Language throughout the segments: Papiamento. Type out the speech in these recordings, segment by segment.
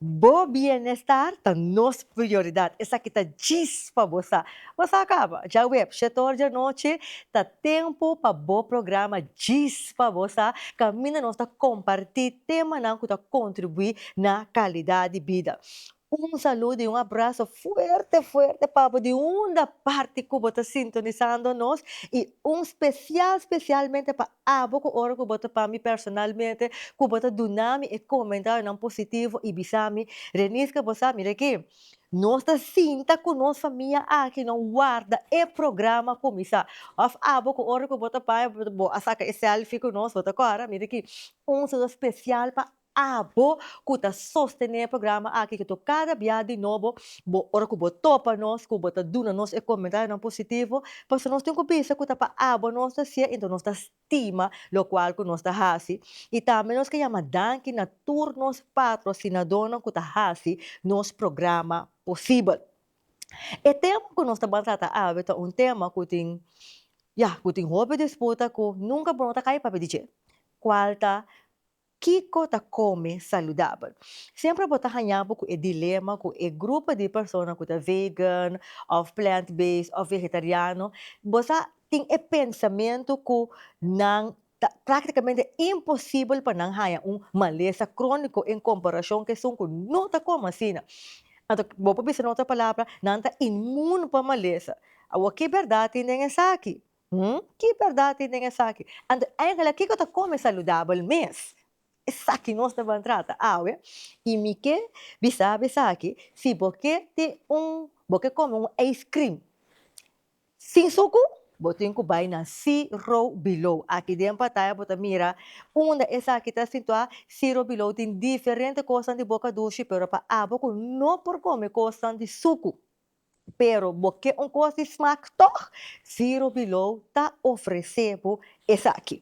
Bo bienestar ta nos prioridad, esaki ta djis pa bo sa. Bo sa caba? Djawe-ep, shetor djanochi ta tempo pa bo programa Djis pa bo sa, caminda nos ta comparti temanan cu ta contribui na calidad di bida. Un saludo y un abrazo fuerte fuerte pa bo di unda parti cu bo ta sintonisando nos y un special specialmente pa Abo ku ora ku bo ta pami personalmente ku bo ta dunami e komentarionan positivo i bisami, Reniska bo sa mira aki, nos ta sinta ku nos famia aki nan warda e programa kuminsá. Òf abo ku ora ku bo ta pami bo a saka e selfie ku nos bo ta kòrda, mira aki, un saludo spesial pa Abo ku ta sostené e programa aki ku to kada bia di nobo bo ora ku bo topa nos ku bo ta duna nos e komentayonan positivo pasobra nos tin ku bisa ku ta pa abo nos ta si'e enton nos ta stima lokual ku nos ta hasi i tambe nos ke yama danki na tur nos patrosinadónan ku ta hasi nos programa posibel. E tema ku nos ta ban trata awe ta un tema ku tin ya ku tin hopi disputa ku nunka bo no ta kai papia di dje kual ta Kiko ta kome saludabel? Semper bo ta haña bo ku e dilema ku e grupo di persona ku ta vegan òf plant based òf vegetariano. Bo sa tin e pensamentu ku nan ta praktikamente imposibel pa nan haña un malesa króniko en komparashon ku esun ku no ta kome asina. Anto bo por bisa na otro palabra nan ta inmun pa malesa. Awor ke bèrdat tin den esaki? Hm, ki bèrdat tin den esaki? Anto eingelik kiko ta kome saludabel mes? Esaki nos ta ban trata awe i mi ke bisaba esaki, si bo ke tin un, bo ke kome un ice cream sin suku, bo tin ku bai na See Row Below. Aki den pantaya bo ta mira unda esaki ta sintuá. See Row Below tin diferente kosnan di boka dushi, pero pa abo ku no por kome kosnan di suku. Pero bo ke un kos di smak tòg? Zero Below ta ofresé bo esaki.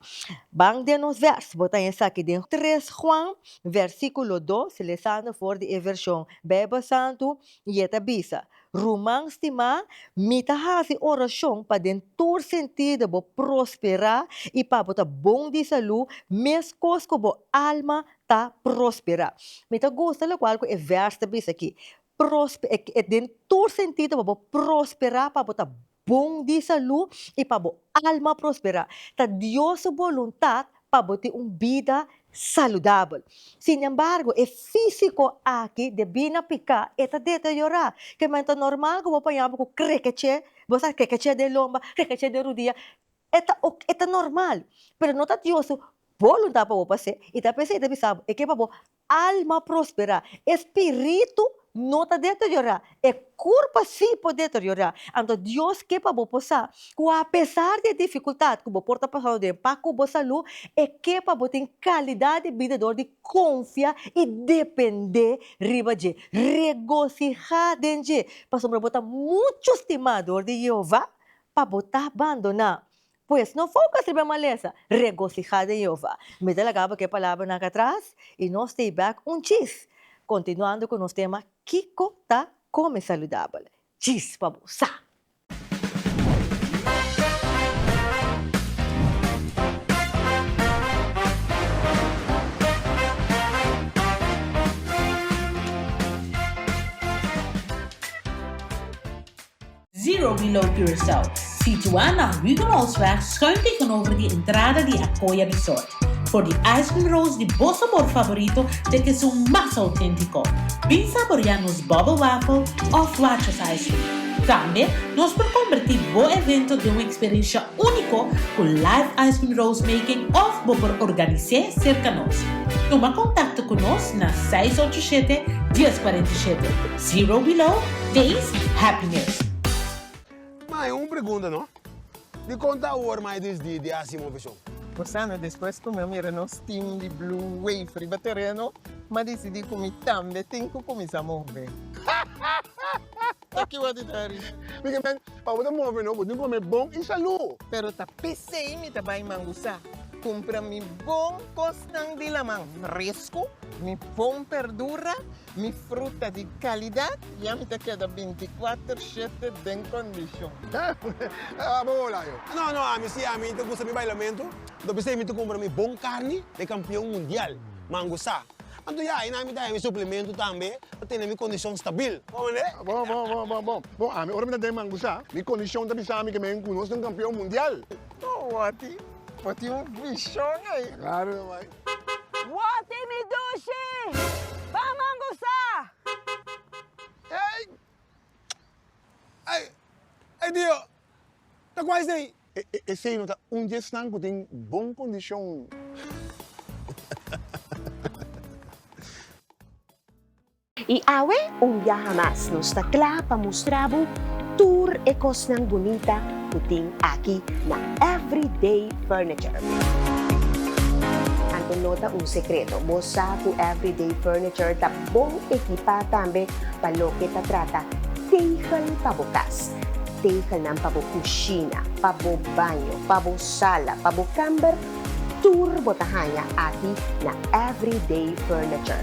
Ban den nos vèrs, bo ta hei esaki den tres Juan, vèrsikulo dos, lesando for di e vershon Beibel Santu, i e ta bisa, Ruman stimá, mi ta hasi orashon pa den tur sentido bo prosperá i pa bo ta bon di salú meskos ku bo alma ta prosperá. Mi ta gusta lokual ku e vèrs ta bisa akí, Prospe e e den tur sentido pa bo prospera pa bo ta bon di salu i pa bo alma prospera ta Dios su boluntat pa bo tin un bida saludabel sin embargo e fisico aki debi na pica e ta deteriora kiman ta normal cu bo paña bo cu crekeche bo sa crekeche den lomba crekeche den rudia e ta ok e ta normal pero no ta Dios su boluntat pa bo pa se i ta p'esei ta bisa bo e ke pa bo Alma prosperá, e spiritu no ta deteriorá, e kurpa sí por deteriorá. Anto Dios ke pa bo por sa ku apesar di e difikultat ku bo por ta pasando den pa ku bo salú, e ke pa bo tin kalidat di bida dor di konfia i dependé riba dje. Regosihá den dje, pasobra bo ta muchu stimá dor di Yehova pa bo ta bandoná. Pues, no foka riba e malesa. Regosihá den Jehová. Mi ta laga bo ku e palabranan atras, i nos ta e bèk un chis, kontinuando ku nos tema Kiko ta Kome Saludabel? Chis pa bo sa! Zero Below Curaçao, situá na Huguenotsweg schuin tegenover di entrada di Acoya Resort, for di ice cream rolls di bo sabor favorito te ke su mas autentico. Bin saborea nos bubble waffle of Watches ice cream. Tambe nos por converti bo evento den un experiencia unico cu live ice cream rolls making of bo por organise cerca nos. Tuma contacto cu nos na seis ocho siete, dies cuarenta y siete. Zero below days happiness. Mae, un pregunta no. Dikon ta awor mae dis di di hasi moveshon? Por sana despues ku mi a mira nos team di Blue Wave riba tereno, mi a disidi ku mi tambe tin ku kuminsá move. Toki wak di traha risa. Miguel men, pa bo ta move no, bo tin ku kome bon i salú. Pero ta pesei mi ta bai Mangusá, kumpra mi bon kosnan di laman, resku, mi bon perdura, Mi fruta di kalidat ya mi ta keda bintikwatr shete den kondishon. Abo hola yo. No, no, ami si ami ta gusta mi bailamentu, lo bisei mi ta kumpra mi bon karni den kampion mundial, mangu sa. Anto ya ayi nan mi ta haña mi suplementu tambe pa tene mi kondishon stabil. Bon manera. Bon, bon, bon, bon, bon. Bon, ami ora mi ta den mangu sa, mi kondishon ta bisa mi ke mi a hinkunos den kampion mundial. Owo a tin, bo tin un vishon ei. Ta klaro nomás. Woti mi dushi! Bam ambusa! Ey! Ay! Ay Dio! Ta kua esei? Esei no ta un di esnan ku tin bon kondishon. I awe, un biaha mas, nos ta kla pa mustra bo tur e kosnan bunita ku tin aki na Everyday Furniture. Anto no ta un sekreto, bo sa ku Everyday Furniture ta bon ekipá tambe pa loke ta trata tegel pa bo kas. Tegelnan pa bo kushina, pa bo baño, pa bo sala, pa bo kàmber, tur bo ta haña aki na Everyday Furniture.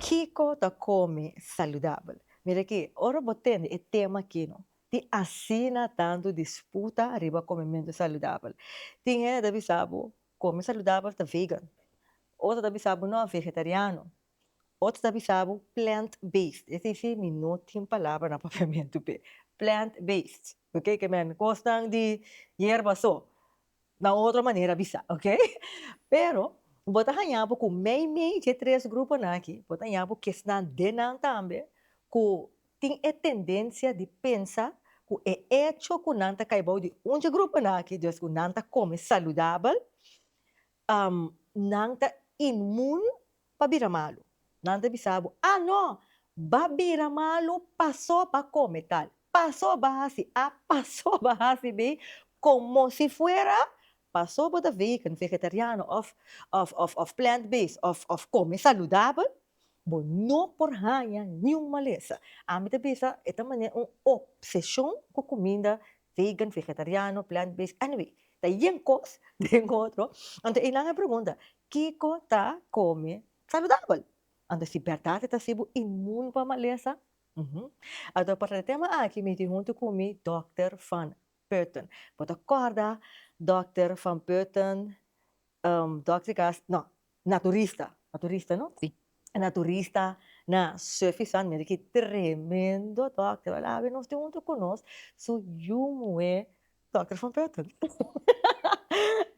Kiko ta come saludabel? Mira aki, ora bo tende e tema aki no tin asina tantu disputa riba comementu saludabel. Tin hende ta bisa bo come saludabel ta vegan, otro ta bisa bo no, vegetariano. Otro ta bisa bo plant based esa si mi no tin palabra na papiamentu p'e plant based ok ke men kosnan di yerba so na otro manera bisa ok pero bo ta haña bo ku mei mei dje tres gruponan aki bo ta haña bo ke esnan den nan tambe ku tin e tendencia di pensa ku e echo ku nan ta kai bou di un dje gruponan aki des ku nan ta kome saludabel Nan ta inmun pa bira malu. Nan ta bisa bo, Ah no! Ba bira malu paso ba come tal, paso ba haci a, paso ba haci bi, como si fuera paso bo ta vegan, vegetariano of plant-based of come saludabel. Bo no por haña niun malesa. Ami ta bisa e ta manera un obsesion cu cuminda vegan, vegetariano, plant based, anyway ta yen cos den otro. Anto eynan a pregunta kico ta come saludabel? Anto si berdad e ta asi bo inmun pa malesa? Uhmm. Anto pa trata e tema aki mi tin hunto cu mi Dokter Van Putten. Bo ta corda Dokter Van Putten? Dokter Gas, no, Na turista, a turista no? Sí. E na turista na Surfy Sun mira ki tremendo dòkter a la nos tin un tur ku nos su yu muhé dòkter van Putten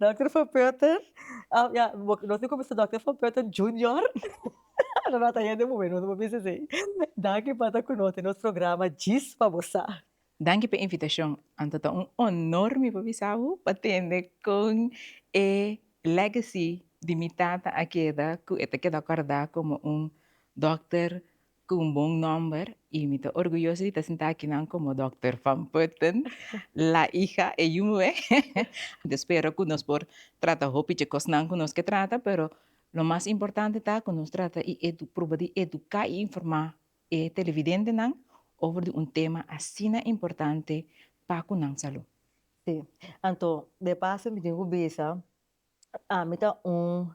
dòkter van Putten a ya nos tin kumisa dòkter van Putten junior lo no ta hende muhé nos a bisa esei danki pa ta kunote nos programa djis pa bo sa. Danki p'e invitashon, anto ta un honor mi pa bisa bo pa tende con e legacy di mi tata a keda cu e ta keda corda como un dokter cu un bon nomber y mi ta orguyoso di ta sinta akinan como Dokter Van Putten, la hija e yu muhé. Mi ta spera cu nos por trata hopi dje cosnan cu nos ke trata pero lo mas importante ta cu nos trata y edu-proba di educa y informa e televidentenan over di un tema asina importante pa cu nan salud. Sí, anto de paso mi tin cu bisa, ami ta un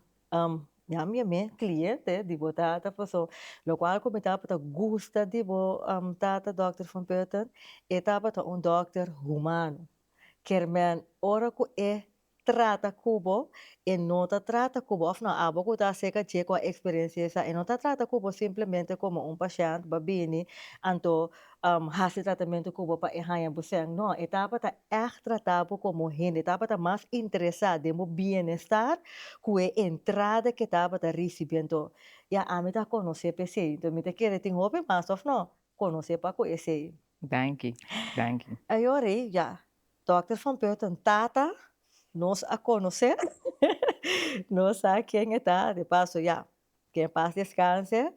ya mi mey cliente di bo tata paso locual cu mi tabata gusta di bo tata Doctor Van Putten e tabata un Doctor humano kermen ora cu e trata cu bo, e no ta trata cu bo, of no, abo cu ta acerca dje cu a experiencia esa, e no ta trata cu bo simplemente como un pashènt ba bini anto hasi tratamento cu bo pa e haya bo sèn, no, e tabata ègt trata bo como hende, e tabata mas interesá den bo bienestar cu e entrada cu e tabata ricibi anto, ya, ami ta conocé pesey, anto mi ta kere tin hopi mas, of no? Conoce pa cu esey. Danki, danki. Ayora e ya, Dokter Van Putten tata, nos a conoce, nos sa ken e ta, de paso ya, que en paz descanse,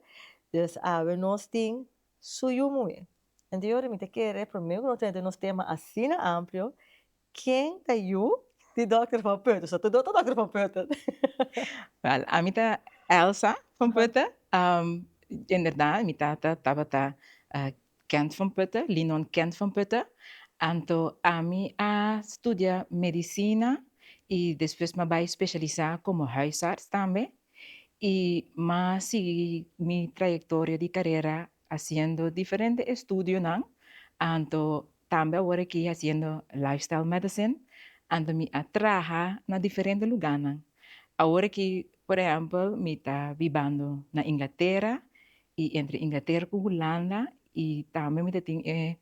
dus awe nos tin su yumoe. Anto ayora mi ta kere, primer cu no tene den nos tema asina amplio, Ken ta yu di Dòkter van Putten? So Tudor ta Dòkter van Putten? Wèl, ami ta Elsa van Putten. Inderdat, mi tata tabata Kent van Putten, Linon Kent van Putten. Anto ami a studia medisina i despues mi a bai spesialisá komo hùisarts tambe i mi a sigui mi trayektoria di karera Haciendo diferente estudionan anto tambe awor aki haciendo lifestyle medicine anto mi a traha na diferente luganan awor aki por ehempel mi ta bibando na Inglatera y entre Inglatera cu Hulanda y tambe mi ta tin e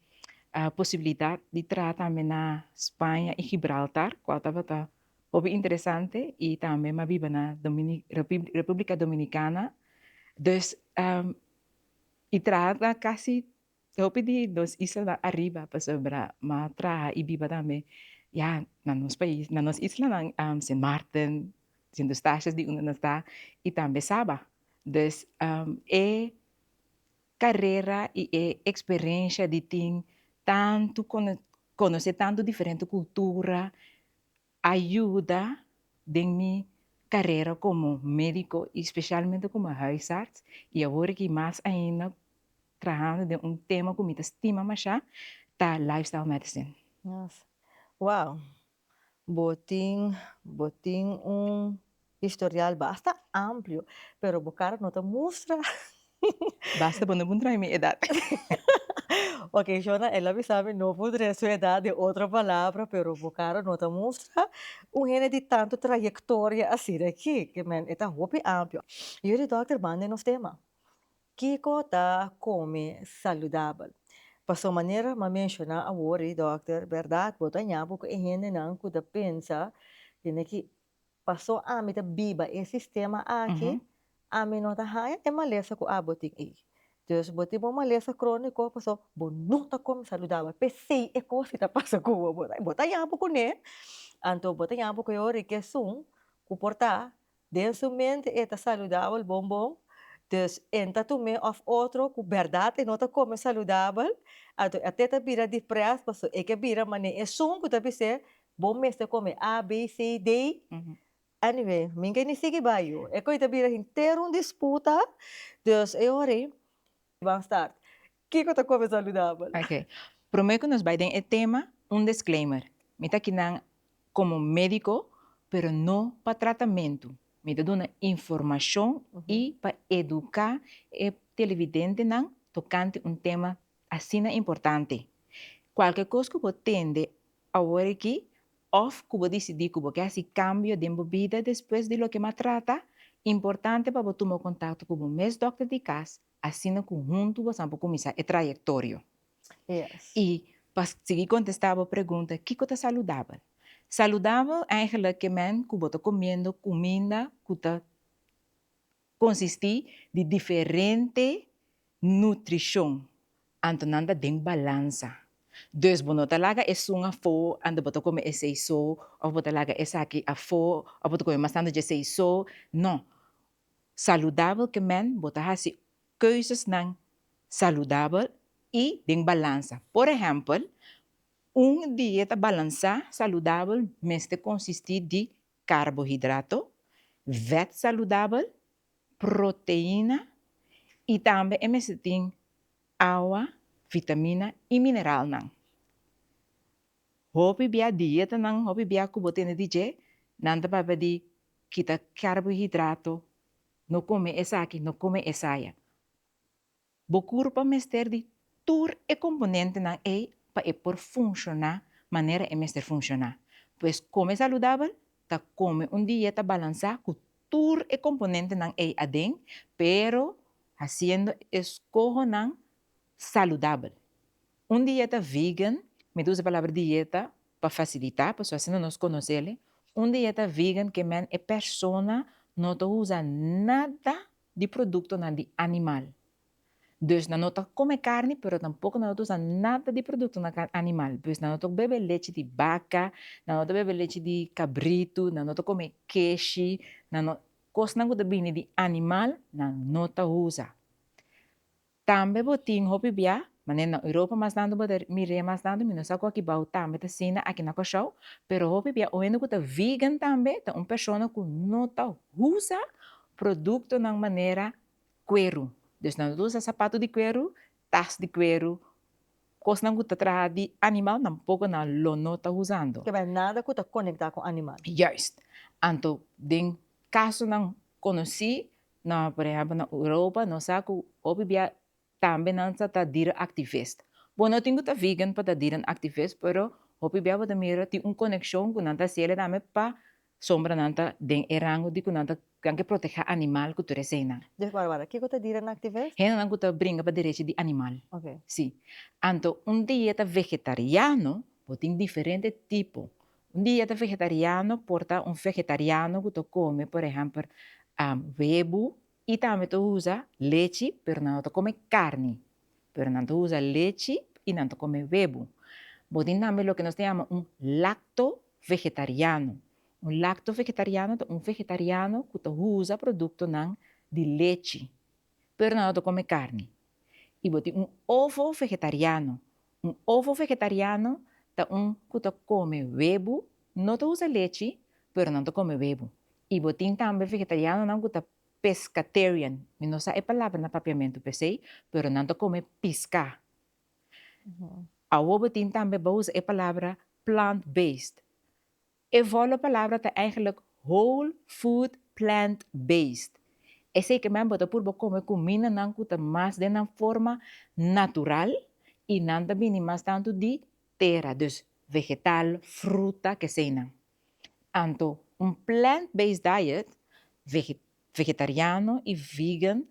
posibilidad di traha tambe na Spaña y Gibraltar cual tabata hopi interesante y tambe mi a biba na Republica Dominicana dus y traha ta casi hopi di nos islanan ariba pasobra ma traha y biba tambe ya na nos pais na nos islanan Sint Maarten Sint Eustatius di unda nos ta y tambe Saba dus e carera y e experencia di tin tanto conoce tanto diferente cultura a yuda den mi carera como medico y specialmente como huisarts y awor aki mas ainda trahando den un tema cu mi ta stima masha ta lifestyle medicine. Wow! Bo tin bo tin un. Historial basta amplio, pero bo cara no ta mustra. Basta bo no por trae mi edad. Ok, Shona, el a bisa mi no por trae su edad, den otro palabra, pero bo cara no ta mustra un hende di tanto trayectoria así de aquí, que men e ta hopi amplio. Yo di dokter manda nos tema, Kico ta come saludabel? Pasobra manera m'a menciona awor ei, dokter, berdad bo ta ña bo cu e hendenan cu ta pensa, tene ki Paso ami ta biba e sistema aki, ami no ta haña e malesa ku abo tin ei. Dus bo tin bo malesa króniko paso bo no ta kome saludabel, p'esei e kos ki ta pasa ku bo, bo ta yapo kuné, anto bo ta yapo ku e ora di ke esun ku por ta den su mente e ta saludabel bon bon, dus e ta tum'é òf otro ku bèrdat e no ta kome saludabel, anto e te ta bira diprès paso e ke bira mané esun ku ta bis'é Bo mester come A, B, C, D. Anyway, mi ke ni sigui bayo. E coi ta bira henter un disputa. Dus e ora ei ban start. Kiko ta come saludabel? Ok. Prome cu nos bay den e tema, un disclaimer. Mi ta aki nan como medico, pero no pa tratamento. Mi ta duna informacion y pa educa e televidentenan tocante un tema asina importante. Cualke cos cu bo tende Awor aki, òf ku bo disidí ku bo ke hasi kambio den bo bida despues di loke m'a trata, importante pa bo tuma kontakto ku bo mes dòkter di kas, asina ku huntu bosan por kuminsá e trayektorio. I pa sigui kontestá bo pregunta, kiko ta saludabel? Saludabel, eigenlik, ke mènt ku bo ta komiendo kuminda ku ta Konsistí di diferente nutrishon anto nan ta den balansa. Dus bo no ta laga e sun afó anto bo ta kome esei so, òf bo ta laga esaki afó òf bo ta kome bastante djesei so. No. Saludabel ke men bo ta hasi keuzesnan saludabel i den balansa. Por ehèmpel, un dieta balansá saludabel mester konsistí di karbohidrato, vèt saludabel, proteina i tambe e mester tin awa, vitamina i mineralnan. Hopi bia dietanan, hopi bia ku bo tende di dje, nan ta papia di kita karbohidrato, no kome esaki, no kome esaya. Bo kurpa mester di tur e komponentenan ei pa e por funshoná manera e mester funshoná. Pues kome saludabel ta kome un dieta balansá ku tur e komponentenan ei aden, pero hasiendo eskohonan saludabel. Un dieta vegan, mi ta usa e palabra dieta pa fasilitá, pasobra asina nos konosele, un dieta vegan ke men e persona no ta usa nada di produktonan di animal. Dus nan no ta kome karni, pero tampoko nan no ta usa nada di produktonan kan animal. Pues nan no ta bebe lechi di baka, nan no ta bebe lechi di kabritu, nan no ta kome keshi, nan no, kosnan ku ta bini di animal nan no ta usa. Tambe bo tin hopi bia, manera na Europa mas nando bo ta mir'é mas nando, mi no sa ku akibao tambe ta asina, aki na Kòrsou, pero hopi bia un hende ku ta vegan tambe ta un persona ku no ta usa produktonan manera kueru, dus nan no ta usa sapatu di kueru, tas di kueru, kosnan ku ta traha di animal tampoko nan lo no ta usando. Kebei nada ku ta konektá ku animal. Juist. Anto den kasonan konosí Na por ehempel na Europa nos sa cu hopi bia tambe nan sa ta dierenn activist. Bo no tin cu ta vegan pa ta dierenn activist pero hopi bia bo ta mira tin un coneccion cu nan ta haci ele tambe pa sombra nan ta den e rango di cu nan ta nan ke protege animal cu tur eseynan. Dje wara wara, kico ta dierenn activist? Hendenan cu ta bringa pa derechi di animal. Ok. Si. Anto un dieta vegetariano bo tin diferente tipo Un dieta vegetariano por ta un vegetariano cu ta come por ehempel huebu y tambe ta usa lechi pero nan no ta come carni pero nan ta usa lechi y nan ta come huebu. Bo tin tambe loke nos ta yama un lacto vegetariano, un lacto vegetariano ta un vegetariano cu ta usa productonan di lechi pero nan no ta come carni y bo tin un ovo vegetariano, un ovo vegetariano ta un cu ta come webo, no ta usa lechi pero nan ta come webo y bo tin tambe vegetarianonan cu ta pescatarian, mi no sa e palabra na papiamento p'esey pero nan ta come pisca, awor bo tin tambe bo usa e palabra plant based, E volo palabra ta eigenlik whole food plant based, esei ke men bo ta purba kome kumindanan ku ta mas den nan forma natural i nan ta bini mas tantu di tera, dus vegetal, fruta, keseinan. Anto un plant based diet, vegetariano i vegan,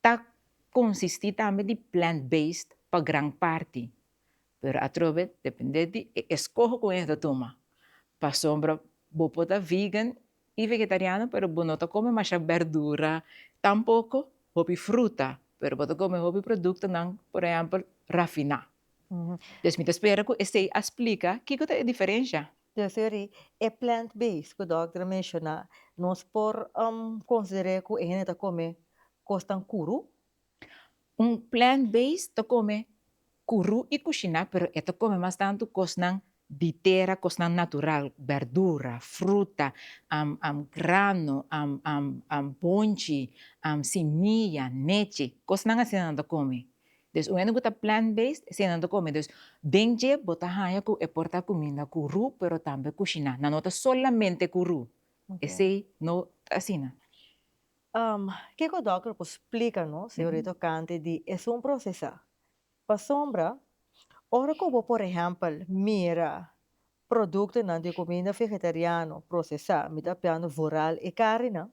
Ta konsistí tambe di plant-based pa gran parti, pero atrobe dependé di e eskoho ku e ta tuma. Pasobra bo por ta vegan i vegetariano pero bo no ta kome masha bèrdura, tampoko hopi fruta, pero bo ta kome hopi produktonan, por ehèmpel rafiná. Pues mi ta spera ku esei a splika kiko ta e diferensha. Dòkter Henry, e plant base ku dòkter a menshoná, nos por konsider'é ku e hende ta kome kosnan kurú? Un plant base ta kome kurú i kushiná pero e ta kome mas tantu kosnan di tera, kosnan natural, bèrdura, fruta, grano, bonchi, simiya, nechi, kosnan asina nan ta kome. Dus un hende ku ta plant based eseinan ta kome. Dus den dje bo ta haña ku e por ta kuminda ku ru pero tambe kushiná nan no ta solamente ku ru esei no ta asina. Ke ku dòkter por splika nos señorita tokante di esun prosesá? Pasobra ora ku bo por ehèmpel mira produktonan di kuminda vegetariano prosesá mi ta hablando vooral e karinan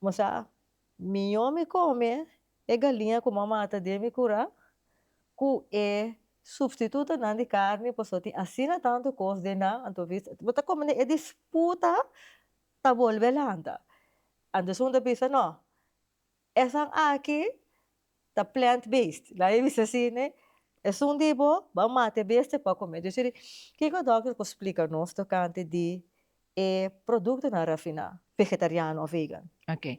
Bo sa, mió mi kome e galiña ku m'a mata den mi kura ku e supstitutonan di karni pasobra tin asina tantu kos den nan, anto bis bo ta kome e disputa ta bolbe lanta. Anto esun ta bisa, No, esan aki ta plant based la e bisa asi ne esun di bo ban mata e bestia pa come dus eri kiko doctor por splica nos tocante di e productonan rafina vegetariano o vegan. Ok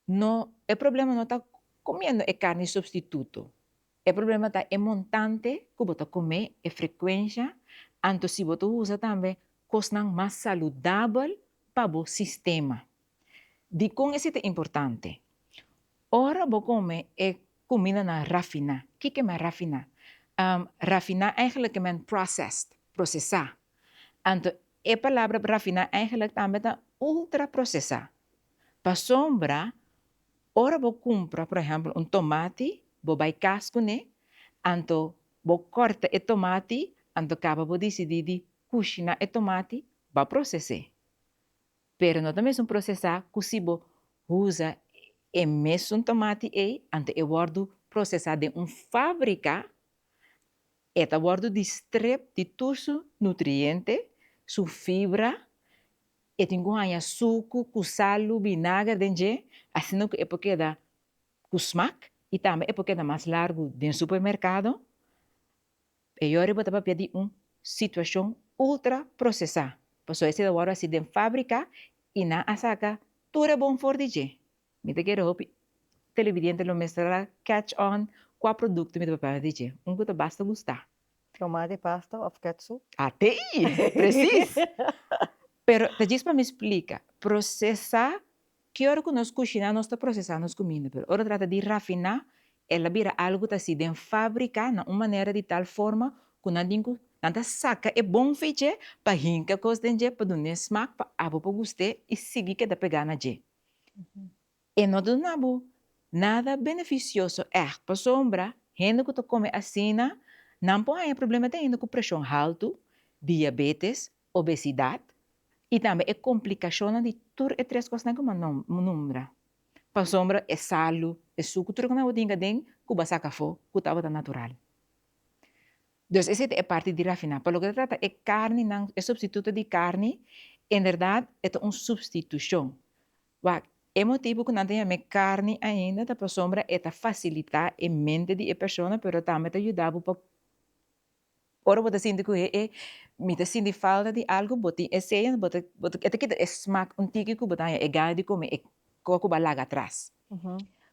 no e problema no ta comiendo e carni substituto e problema ta e montante cu bo ta come e frecuencia anto si bo ta usa tambe cosnan mas saludabel pa bo sistema. Dikon ese ta importante? Ora bo kome e kumindanan rafiná, kiko men rafiná? Rafiná eigelik ke men processed, prosesá. Anto e palabra rafiná eigelik tambe ta ultraprosesá. Pasobra ora bo kumpra por ehèmpel un tomati, bo bai kas kuné, anto bo kòrta e tomati, anto kaba bo disidí di kushiná e tomati, bo a proses'é. Pero no ta mesun procesá cu si bo usa e mesun tomati ey ante e wordu procesá den un fabrica, e ta wordu distrep di tur su nutriente, su fibra, e tin cu haña sucu cu salu, binager den dje, asina cu e por keda cu smak y tambe e por keda mas largu den supermercado. E yori bo ta papia di un situashon ultra prosesá, pasobra esei ta wòrdu hasi den fábrika i nan a saka tur e bon for di dje. Mi ta kere hopi televidiente lo mestra catch on kua produkto mi ta papia di dje, un ku ta basta gustá. Tomati pasta òf kètsup? Atei! Presis! Pero ta djis pa mi splika, prosesá Ki ora ku nos kushiná nos ta prosesá nos kuminda, pero ora trata di rafiná el a bira algu ku ta hasi den fábrika na un manera di tal forma ku nan tin ku nan ta saka e bon fi dje pa hinka kos den dje pa dun'é smak pa abo por gust'é i sigui keda pegá na dje. E no ta duna abo nada benefisioso ègt pasobra hende ku ta kome asina nan por haña problema te hende ku preshon haltu, diabetes, obesidat i tambe e komplikashonnan di tur e tres kosnan ku nan numbra. Pasobra e salu, e sukutru ku nan por tin aden ku bo a saka afó ku tabata natural. Dus esei ta e parti di rafiná. Pa loke ta trata e karninan, e supstituto di karni, en bèrdat e ta un supstitushon. Wak, e motibu ku nan ta yam'é karni ainda ta pasobra e ta fasilitá e mente di e persona pero tambe ta yuda bo pa Ora bo ta sinti ku e e, mi ta sinti falta di algu, bo tin e seña, bo ta, bo ta, e ta kita e smak un tiki ku bo ta haña e gana di kume e kos ku bo a laga atras.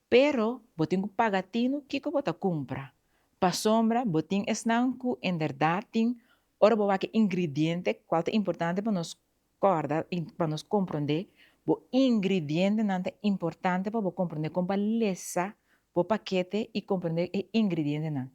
Pero bo tin ku paga tinu kiko bo ta kumpra. Pasobra bo tin esnan ku enderdat tin, ora bo wak e ingridiente, kual ta importante pa nos kòrda i pa nos komprondé, bo ingridientenan ta importante pa bo komprondé kon pa lesa bo pakete i komprondé e ingridientenan.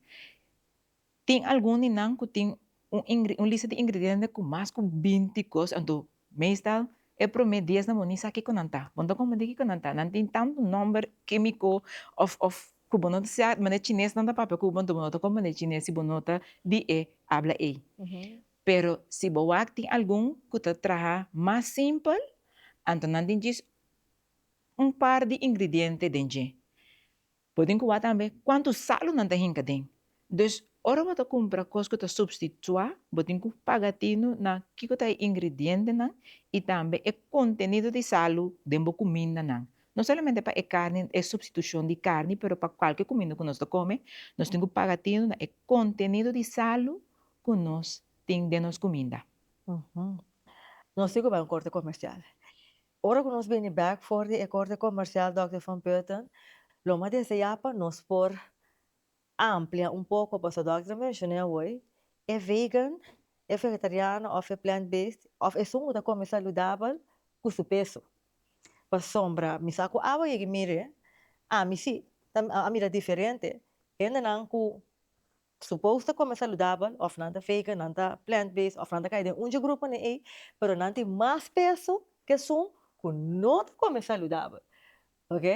Tin algun di nan ku tin un lista di ingrediente ku mas ku binti kos, anto meestal e promé dies nan bo ni sa kiko nan ta. Bo no ta konprendé kiko nan ta. Nan tin tantu nòmber kémiko òf òf ku bo no ta sa manera chines nan ta papia ku bo, anto bo no ta konprendé chines si bo no ta di e abla ei. Pero si bo wak tin algun ku ta traha mas simpel, anto nan tin djis un par di ingrediente den dje. Bo tin ku wak tambe kuantu salu nan ta hinka den. Dus ora bo ta kumpra kos ku ta supstituá, bo tin ku paga atinu na kiko ta e ingredientenan i tambe e kontenido di salu den bo kumindanan. No solamente pa e karni, e supstitushon di karni, pero pa kualke kuminda ku nos ta kome, nos tin ku paga atinu na e kontenido di salu ku nos tin den nos kuminda. Nos tin ku bai un korte komersial. Ora cu nos bini bek for di e Corte Comercial Dòkter Van Putten, lo mas desea pa nos por amplia un poco pasobra dòkter a menciona awoy, e vegan, e vegetariano of e plant-based of esun cu ta come saludabel cu su peso. Pasobra mi sa cu awa yega y mire, ami si ta mira diferente. Hendenan cu Supos ta come saludabel of nan ta vegan, nan ta plant based of nan ta cay den un dje gruponan ey, pero nan tin mas peso ke esun cu no ta come saludabel. Ok?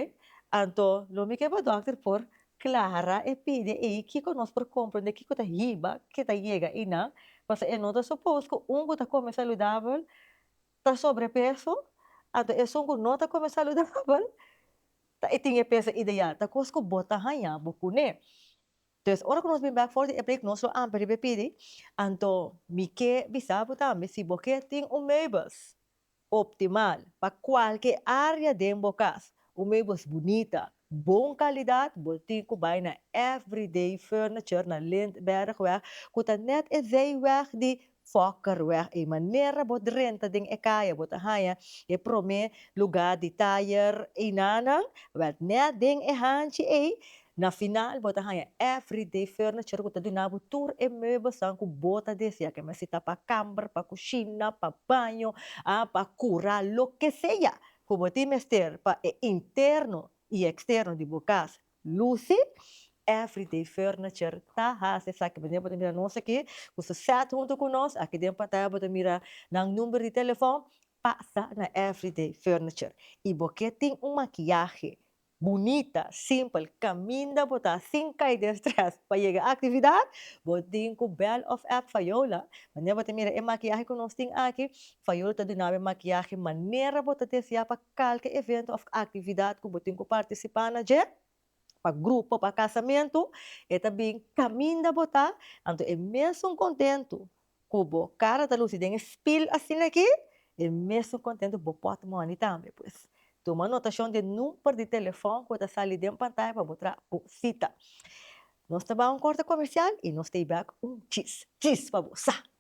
Anto lo mi ke pa dokter por clara e pide ey kico nos por comprende kico ta hiba ke ta yega eynan, pasobra ey no ta supos cu un cu ta come saludabel ta sobrepeso, anto esun cu no ta come saludabel ta ey tin e peso ideal. Ta cos cu bo ta haya bo cune. Entonces ora cu nos bin bek for di e break nos lo amper riba e pidi, anto mi ke bisa bo tambe si bo ke tin un meubels optimal pa cualke area den bo cas, un meubels bunita, bon calidad, bo tin cu bay na Everyday Furniture na Lindbergweg cu ta net esey weg di Fokker weg ei manera bo drenta den e kaya bo ta haña e prome luga di tayer einanan wel net den e hanchi ei na final bo ta haña everyday furniture ku ta duna bo tur e meubelsan ku bo ta desea ke mester ta pa kamber pa kushina pa baño a pa kura loke sea ku bo tin mester pa e interno i eksterno di bo kasa. Lucy, Everyday furniture ta hasi esaki bo den bo ta mira nos aki ku su set huntu ku nos aki den pantaya bo ta mira nan number di telefon pasa na everyday furniture i bo ke tin un makiyahe bunita simpel kaminda bo ta sin kai den stress pa yega aktividat bo tin ku bel of app Fayola manera bo ta mira e makiyahe ku nos tin aki Fayola ta dunabo e makiyahe manera bo ta deseá pa Kalke evento òf aktividat ku bo tin ku partisipá na dje, pa grupo, pa kasamentu, e ta bin kaminda bo ta, anto e mesun kontentu ku bo kara ta lusi den e spil asina aki, e mesun kontentu bo pòtmòni tambe pues. Tuma notashon den number di telefòn ku ta sali den pantaya pa bo traha bo sita. Nos ta bai un kòrte komersial i nos ta bai un chis chis pa bo sa!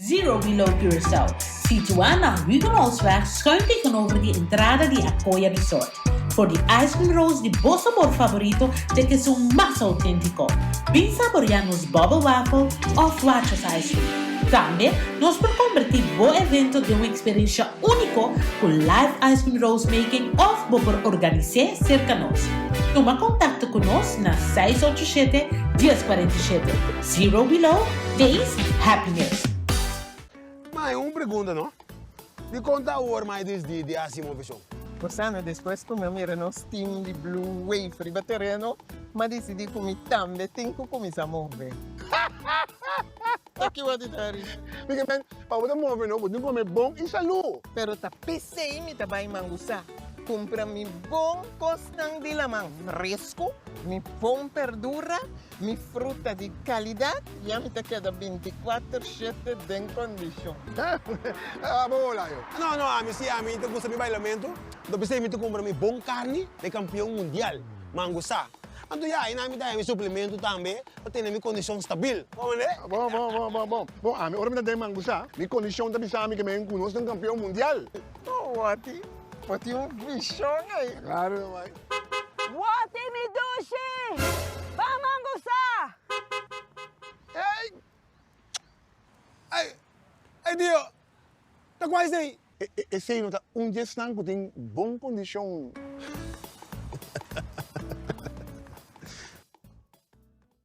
Zero Below Curaçao, situá na Huguenotsweg schuin tegenover di entrada di Acoya Resort. For di ice cream rolls di bo sabor favorito te kesun mas auténtico. Bin saboreá nos bubble waffle òf Watchers ice cream. Tambe nos por combertí bo evento den un experiencia único cu live ice cream rolls making òf bo por organisé cerca nos. Tuma contacto cu nos na seis ocho siete, dies cuarenta y siete. Zero below, days, happiness. Mai un pregunta no. Di kon ta awor mai dis di di hasi moveshon? Por sana despues ku mi mira nos team di Blue Wave riba tereno, mi a disidi ku mi tambe tin ku kuminsá move. Toki wòrdu ta ri. Miguel men, pa bo ta move no, bo tin ku kome bon i salú. Pero ta pesei mi ta bai Mangusá, kumpra mi bon kosnan di laman, resku, mi bon perdura, Mi fruta di kalidat ya mi ta keda bintikwatr shete den kondishon. Heh, abo hola yo. No, no, ami si ami ta gusta mi bailamentu, lo ta bisei mi ta kumpra mi bon karni den kampion mundial, mangu sa. Anto ya ayinan mi ta haña mi suplementu tambe pa tene mi kondishon stabil. Bon manera? Bon, bon, bon, bon, bon. Bon, ami ora mi ta den mangu sa, mi kondishon ta bisa mi ke mi a yu ku nos den kampion mundial. Owo a tin, bo tin un vishon ei. Ta klaro nomás. Woti mi dushi! Ban man bu sa! Ey! Ay! Ay Dio! Ta kua esei? Esei no ta un di esnan ku tin bon kondishon.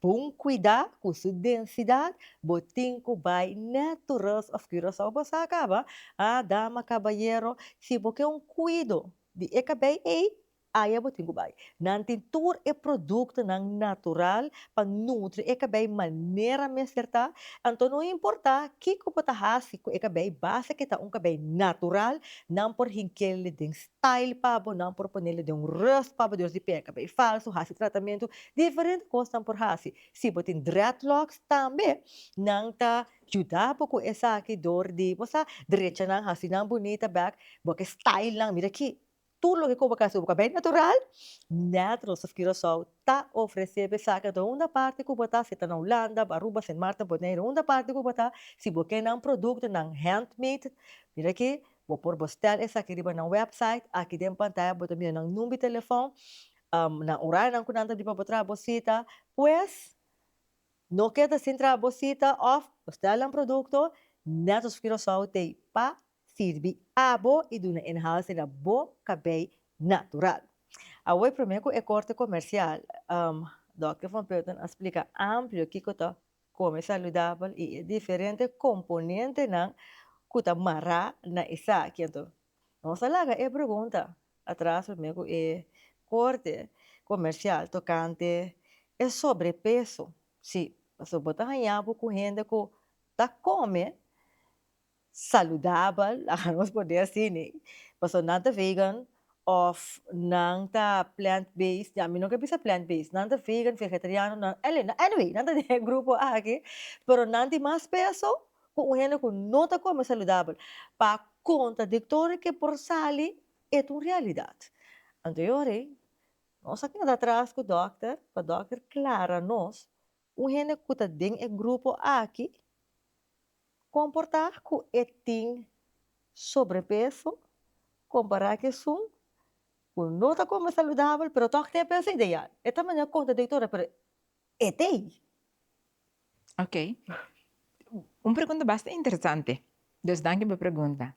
Pa un cuida cu su densidad bo tin cu bay ne Tourist of Curaçao bo sa caba ha dama cabayero si bo ke un cuido di e cabey ey aya bo tin cu bay nan tin tur e producto nan natural pa nutri e cabey manera mester ta anto no importa kico bo ta haci cu e cabey base ke ta un cabey natural nan por hinkele den Tail pa bo nan por ponele den un rust pa bo dios di peka bay falso hasi tratamentu diferente cos nan por hasi si bo tin dreadlocks tambe nan ta juda bo cu esaki door di bo sa drecha nan hasi nan bunita bek bo ke style nan mira aki tur loke cu bo ke hasi bo ke bay natural Naturals of Curacao ta ofrece bo esaki a unda parti cu bo ta si ta na Hulanda Aruba Sint Maarten Bonaire unda parti cu bo ta si bo ke nan producto nan handmade mira aki Bo por bo stèl esaki riba nan wèpsait. Aki den pantaya bo ta mira nan number di telefòn, nan orarionan ku nan ta di pa bo traha bo sita. Pues, no keda sin traha bo sita òf bo stèl nan produkto. Nètos of Curaçao t'ei pa sirbi abo i duna e nahals riba bo kabei natural. Awor promé ku e korte komersial, Dòkter Van Peuten a splika amplio kiko ta Kome saludabel i e diferente komponentenan ku ta mará na esaki. Anto nos a laga e pregunta atras promé ku e korte komersial tokante e sobrepeso. Sí, pasobra bo ta hañá bo ku hende ku ta kome saludabel, ahan nos por di así ne, pasobra nan ta vegan of nan ta plant based, ya mi no ke bisa plant based, nan ta vegan, vegetariano, nan ele nan anyway nan ta den e grupo aki, pero nan tin mas peso ku un hende ku no ta kome saludabel, pa kontradiktorio ke por sali e ta un realidat, anto yo rei nos a keda atras ku dòkter pa dòkter klara nos Un hende ku ta den e grupo aki komportá ku e tin sobrepeso kompará ku esun ku no ta kome saludabel pero tok tin e peso ideal. E ta manda konta e doktor pero e t'ei. Ok, un pregunta basta interesante, dus danki pa pregunta.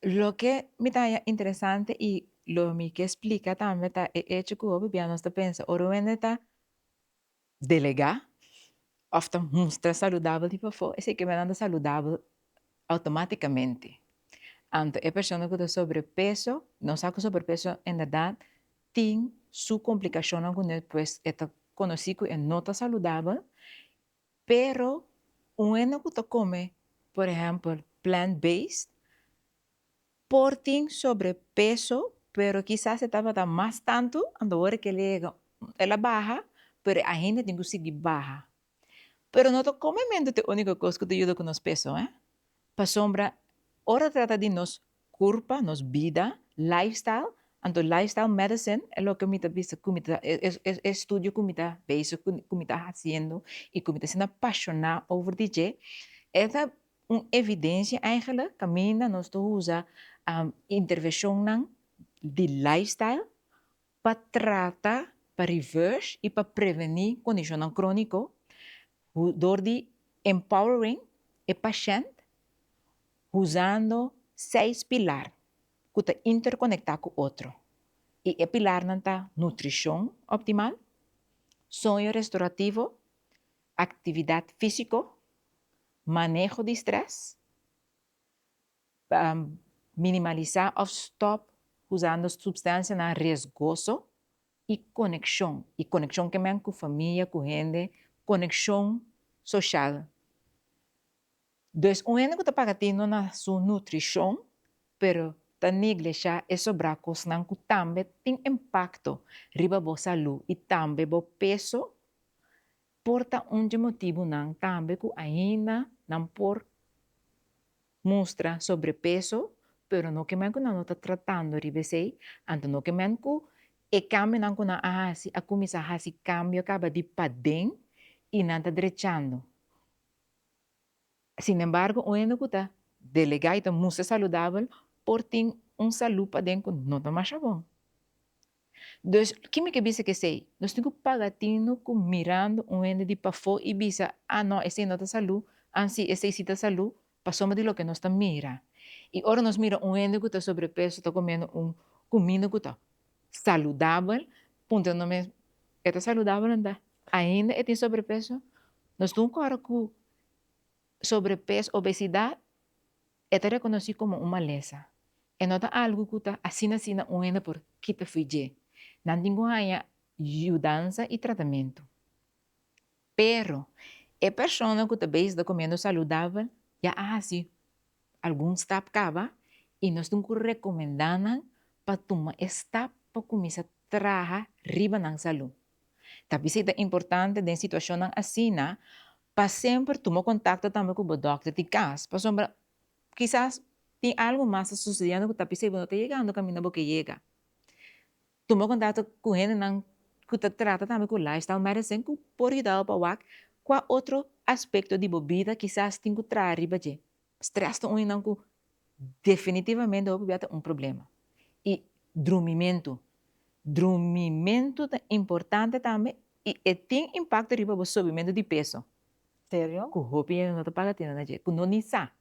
Loke mi ta haña interesante i lo mi ke splika tambe ta e echo ku hopi bia nos ta pensa ora un hende ta delegá òf ta mustra saludabel di pafó, esei kemenan ta saludabel outomátikamente. Anto e persona ku ta sobrepeso, nos sa ku sobrepeso inderdat tin su komplikashonnan ku nel, pues e ta konosí ku e no ta saludabel, pero un hende ku ta kome, por ehèmpel, plant-based, por tin sobrepeso pero kisas e tabata mas tantu anto ora ke lege el a baha pero e ahinda tin ku sigui baha pero no ta kome mentu ta e uniko kos ku ta yuda ku nos peso he pasobra ora trata di nos kurpa nos bida lifestyle anto lifestyle medicine e loke mi ta bisa ku mi ta e estudio ku mi ta bezig ku mi ta hasiendo i ku mi ta siendo apashona over di dje e ta Un evidensia eigenlijk caminda nos ta usa intervencionnan di lifestyle pa trata, pa reverse y pa preveni condicionnan cronico door di empowering e pashent usando seis pilar cu ta interconecta cu otro y e pilarnan ta nutricion optimal, soño restorativo, Actividad físico, maneho di stress, minimalisá of stop usando substancianan riesgoso y coneccion, y coneccion ke men cu familia, cu hende, coneccion social. Des un hende cu ta paga tendo na su nutricion, pero ta neglesha e sobra cosnan cu tambe tin impacto riba bo salu y tambe bo peso, por ta un dje motibunan tambe cu ainda nan por mustra sobrepeso, pero no kemen cu nan lo ta tratando riba esey, anto no kemen cu e cambionan cu nan a haci a cuminsa haci cambio caba di paden y nan ta drechando. Sin embargo, un hende ku ta delegá i ta mustra saludabel por tin un salú paden ku no ta masha bon. Dus, kin mi ke bisa ku esei? Nos tin ku paga tinu ku mirando un hende di pafó i bisa, Ah no, esei no ta salú, ansi esei sí ta salú, pasobra di loke nos ta mira. I ora nos mira un hende ku ta sobrepeso ta komiendo un kuminda ku ta Saludabel, puntra no mes, E ta saludabel anda ainda e tin sobrepeso? Nos tin un kòrda ku sobrepeso, obesidad, e ta rekonosí komo un malesa. E no ta algu ku ta asina asina un hende por kita fui dje. Nan tin ku haña yudansa i tratamentu. Pero, e persona ku ta beisda komiendo saludabel ya a hasi algun stap kaba i nos tin ku rekomendá nan pa tuma e stap pa kuminsá traha riba nan salú. Ta bisita importante den situashonnan asina pa semper tuma kontakto tambe ku bo dòkter di kas pasobra kisas tin algu mas ta susediendo ku ta bis'ei bo no ta yegando kaminda bo ke yega. Tuma kontakto ku hendenan ku ta trata tambe ku lifestyle medicine ku por yuda'u pa wak kua otro aspekto di bo bida kisas tin ku traha riba dje. Strès ta un esnan ku definitivamente hopi bia ta un problema. I drumimentu. Drumimentu ta importante tambe i e tin impakto riba bo subimentu di peso. Serio? Ku hopi hende no ta paga tende na dje ku no ni sa.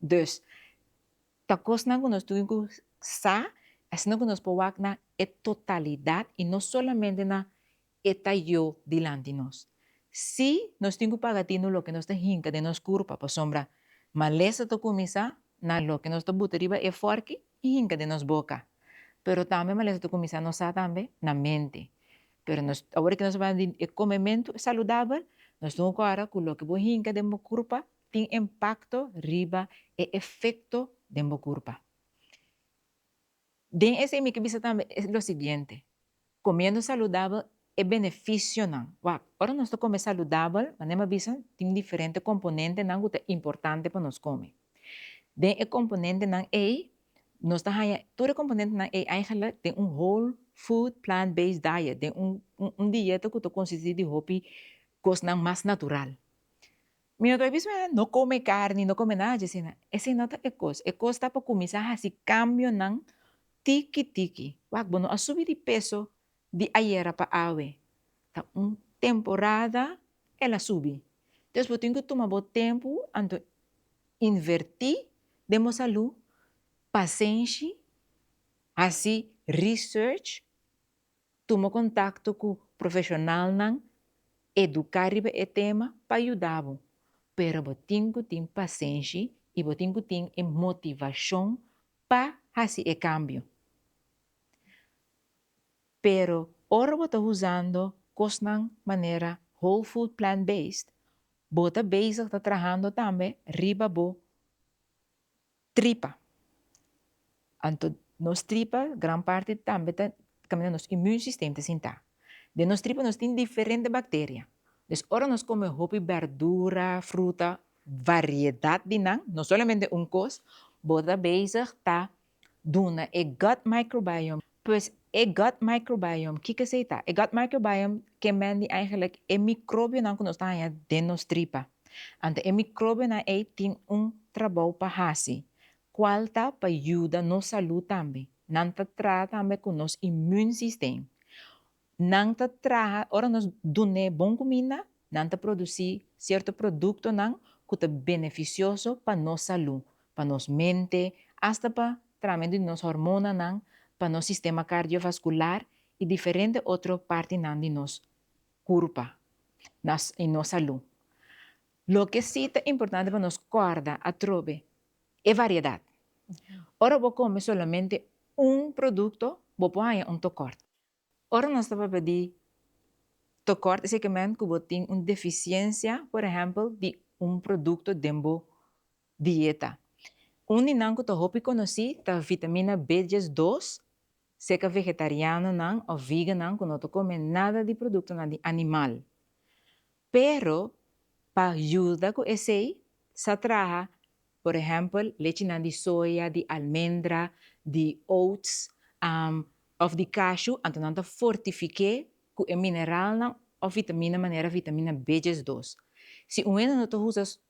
Dus, Ta kosnan ku nos tin ku sa, asina ku nos por wak na e totalidat i no solamente na e ta yo dilanti nos. Sí, nos tin ku paga tinu loke nos ta hinka den nos kurpa, pasobra malesa ta kuminsá na loke nos ta buta riba e fòrki i hinka den nos boka. Pero tambe malesa ta kuminsá nos sa tambe na mente. Pero nos, awor di nos ta parla di e komementu saludabel, nos tin ku kòrda ku loke bo hinka den bo kurpa tin impakto riba e efekto den bo kurpa. Den esei mi ke bisa tambe lo siguiente, komiendo saludabel e benefisionan, wak, ora nos ta kome saludabel, manera mi a bisa, tin diferente komponentenan ku ta importante pa nos kome. Den e komponentenan ei, nos ta haña tur e komponentenan ei eigentlik den un whole food plant based diet, den un dieta ku ta konsistí di hopi kosnan mas natural. Mi no ta bisa mester no come carni, no come nada dje asina. Esei no ta e cos. E cos ta pa cuminsa haci cambionan tiki tiki. Wak, bo no a subi di peso di ayera pa awe. Ta un temporada el a subi. Entonces bo tin cu tuma bo tempo anto inverti den bo salud, pasenshi, haci research. Tuma kontakto ku profeshonalnan eduká riba e tema pa yuda bo, pero bo tin ku tin pasenshi i bo tin ku tin e motivashon pa hasi e kambio. Pero ora bo ta usando kosnan manera whole food plant based, bo ta bezig ta trahando tambe riba bo Tripa. Anto nos tripa gran parti tambe ta caminda nos immune system ta sinta. Den nos tripa nos tin diferente bacteria. Des ora nos come hopi berdura, fruta, variedad di nan, no solamente un cos, bo ta bezig ta duna e gut microbiome Pues e gut microbiome, kico esey ta? E gut microbiome ke men di eigenlijk e microbionan ku nos ta haña den nos tripa. Anto e microbionan ey tin un trabou pa haci, cual ta pa yuda nos salud tambe. Nan ta trata tambe ku nos immune system. Nan ta traha, ora nos dun'é bon kuminda, nan ta produsí sierto produktonan ku ta benefisioso pa nos salú, pa nos mente, asta pa tramentu di nos hormonanan, pa nos sistema kardiovaskular i diferente otro partinan di nos kurpa i nos salú. Loke sí ta importante pa nos kòrda atrobe e variedat. Ora bo kome solamente un produkto, bo por haña un tokòrt. Ora nos ta papia di tokòrt esei ke mènt ku bo tin un defisiensia, por ehèmpel, di un produkto den bo dieta. Un di nan ku ta hopi konosí ta vitamina B dies dos, seka vegetarianonan òf vigannan ku no ta kome nada di produktonan di animal. Pero pa yuda ku esei sa traha por ehèmpel lechinan di soya, di almendra, di oats òf di kashu anto nan ta fortifik'é ku e mineralnan òf vitamina manera vitamina B djes dos. Si un hende no ta usa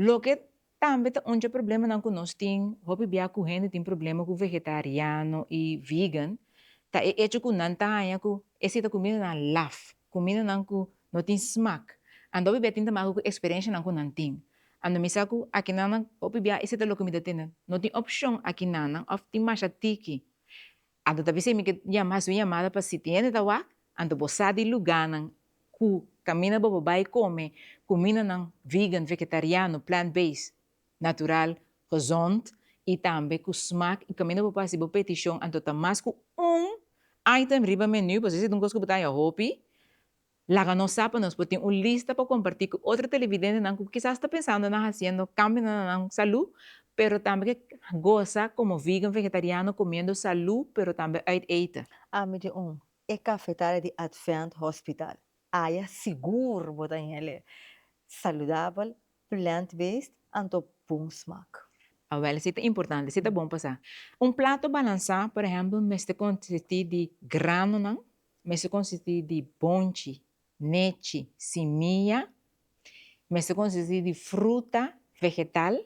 Loke tambe ta un dje problemanan ku nos tin hopi bia ku hende tin problema ku vegetariano i vegan ta e echo ku nan ta haña ku esei ta kumindanan laf, kumindanan ku no tin smak. Anto hopi bia tin ta maka ku eksperenshanan ku nan tin. Anto mi sa ku aki nan hopi bia esei ta loke mi ta tende, no tin opshon aki nan òf tin masha tiki. Anto ta bisa mi ke hasi un yamada pa si tin hende ta wak, anto bo sa di lugánan ku kaminda bo por bai kome kumindanan vegan, vegetariano, plant base, natural, gezond i tambe ku smak i kaminda bo por hasi bo petishon anto ta mas ku un item riba menu, pues esei ta un kos ku bo ta haña hopi. Laga nos sa pa nos por tin un lista pa comparti cu otro televidentenan cu kisas ta pensando na haciendo cambionan na nan salu pero tambe ke goza como vegan, vegetariano, comiendo salu pero tambe uit eten. Ami tin un e cafetaria di Advent Hospital. Aya sigur bo ta helle saludabel, plant-based anto bon smak. Awel si ta importante, si ta bon pa sa. Un plato balansa, por ehempel, mester consisti di granonan, Mester konsisti di bonchi, nechi, simiya. Mester konsisti di fruta, vegetal.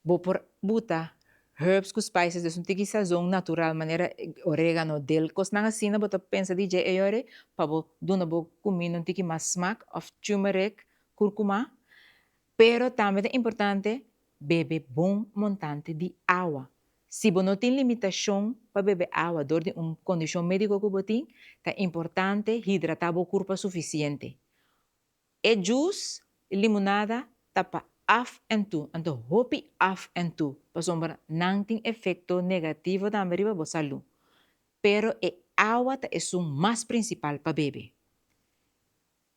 Bo por buta herbs ku spices di esun tiki sazon natural manera oregano, dil, kosnan asina bo ta pensa di dje e yori pa bo duna bo kuminda un tiki mas smak òf turmeric, kúrkuma. Pero tambe ta importante bebe bon montante di awa. Si bo no tin limitashon pa bebe awa dor di un kondishon médiko ku bo tin, ta importante hidratá bo kurpa sufisiente. E jus i limunada ta pa af en tu, anto hopi af en tu, pasobra nan tin efekto negativo tambe riba bo salú. Pero e awa ta esun mas prinsipal pa bebe.